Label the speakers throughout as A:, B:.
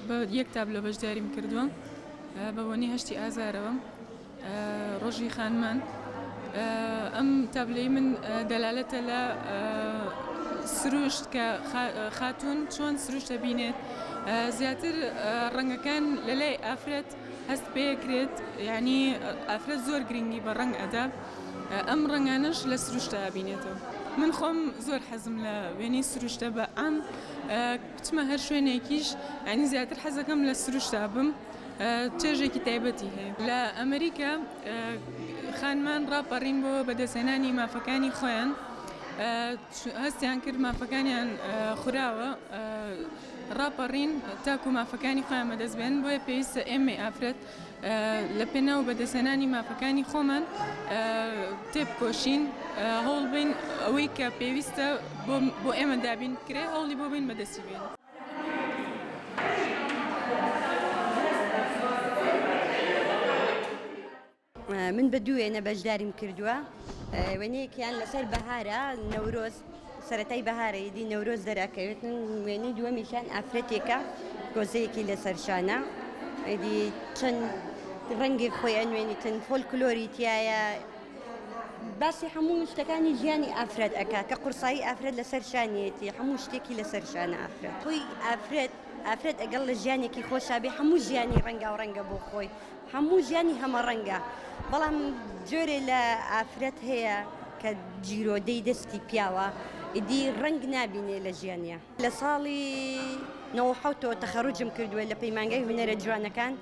A: بە یەک تابلۆ بەشداریم کردووە بە بۆنی هەشتی ئازارەوە ڕۆژی خانمان ئەم تابلۆی من دەلالەتە لە سروشت کە خاتون چۆن سروشتە بینێت زیاتر ڕەنگەکان لە لای ئافرەت هەست پێکرێت یانی ئافرەت زۆر گرنگی بە ڕەنگ ئەدا ئەم ڕەنگانەش لە سروشتە ئەبینێتەوە من خۆم زۆر حەزم لە وێنەی سروشتە بە ئەم بچمە هەر شوێنێکیش ئەنی زیاتر حەزەکەم لە سروشتا بم چێژێکی تایبەتی هەیە لە ئەمریکا خانمان ڕاپەڕین بۆ بەدەستێنانی مافەکانی خۆیان هەستیان کرد مافەکانیان خوراوە ڕاپەڕین تاکو مافەکانی خۆیان بەدەست بێنن، بۆیە پێویستە ئێمەی ئافرەت لە پێناو بەدەستهێنانی مافەکانی خۆمان تێبکۆشین، هەوڵ بین ئەوەی کە پێویستە بۆ ئێمە دابین بکرێت هەوڵی بۆ بین بەدەستی بێنین.
B: من بە دوو وێنە بەشداریم کردووە وێنەیەکیان لەسەر بەهارە نەورۆز سەتای بەهارە یدی نەورۆز دەراکەوێت من وێنەی دووەمیشان ئافرەتێکە گۆزەیەکی لەسەر شانە ئەدی چەند ڕەنگی خۆی ئەنوێنیتن فۆل کلۆری تایە باسی هەموو شتەکانی ژیانی ئافرەت ئەک کە قورسایی ئافرەت لەسەر شانیەتی هەموو شتێکی لەسەر شانە ئافرەت خۆی ئافرەت ئافرەت ئەگەڵ لە ژیانێکی خۆشابێ هەموو ژیانی ڕەنگاو ڕەنگە بۆ خۆی هەموو ژیانی هەمەڕەنگە، بەڵام جۆرێ لە ئافرەت هەیە کە جیرۆدەی دەستی پیاوە ئیدی ڕەنگ نابینێ لە ژیانیا. لە ساڵی نەوەد و حەوت ەوە تەخەڕوجم کردووە لە پەیمانگای هونەرە جوانەکان،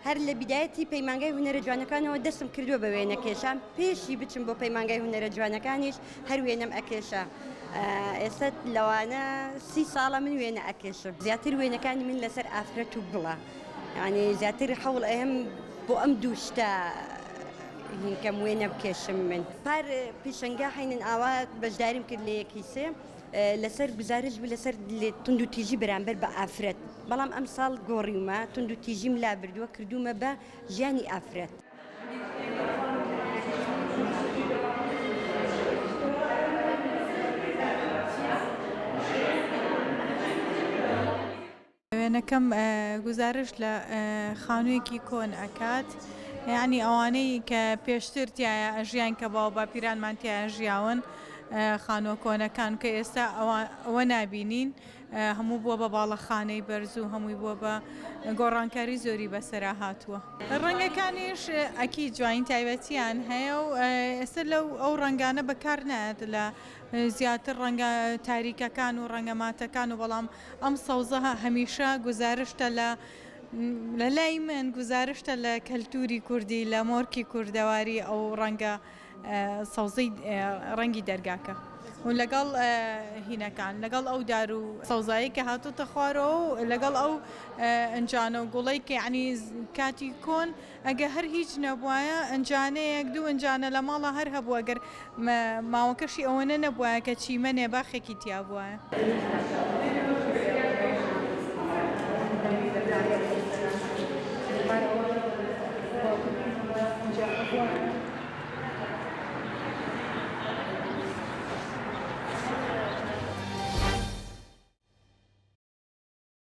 B: هەر لە بیدایەتی پەیمانگای هونەرە جوانەکانەوە دەستم کردووە بە وێنەکێشان، پێشی بچم بۆ پەیمانگای هونەرە جوانەکانیش هەر وێنەم ئەکێشا، ئێستا لەوانە سی ساڵە من وێنە ئەکێشم، زیاتر وێنەکانی من لەسەر ئافرەت و گوڵە. یانی زیاتر حەوڵ ئەیەم بۆ ئەم دوو شتە هینکەم وێ نەبکێشم من پار پیشەنگا حینن ئاوا بەشداریم کرد لە یەکی سێ لەسەر گزارش بوو لەسەر تونند و تیژی بەرامبەر بە ئافرەت بەڵام ئەم ساڵ گۆڕیومە تونند و تیژیم لا بردووە کردومە بە ژیانی ئافرەت.
C: وێنەکەم گوزارشت لە خانویەکی کۆن ئەکات یعنی ئەوانەی کە پێشتر تایە ئەژیان کە باو باپیرانمان تایە ژیاون خانوە کۆنەکان کە ئێستا ئەوە نبینین هەموو بووە بە باڵەخانەی بەرز و هەمووی بووە بە گۆڕانکاری زۆری بەسرا هاتووە ڕەنگەکانیش ئەکی جوین تایبەتیان هەیە و ئێستا لەو ئەو ڕنگانە بەکار نایەت لە زیاتر ڕەنگە تاریکەکان و ڕەنگەماتەکان و بەڵام ئەم سەوزە هەمیشە گوزارشتە لە لە لای من گوزارشتە لە کەلتوری کوردی لە مۆرکی کوردەواری ئەو ڕەنگە سەوزەی ڕەنگی دەرگاکە و لەگەڵ هینەکان لەگەڵ ئەو دار و سەوزایی کە هاتوتە خوارەوە و لەگەڵ ئەو ئەنجانە و گوڵی کە عنی کاتی کۆن ئەگە هەر هیچ نەبوایە ئنجانەیەک دوو ئنجانە لە ماڵا هەر هەبوو ئەگەر ماوەکەشی ئەوەنە نەبوایە کە چیمەنێ باخێکی تیا بوایە.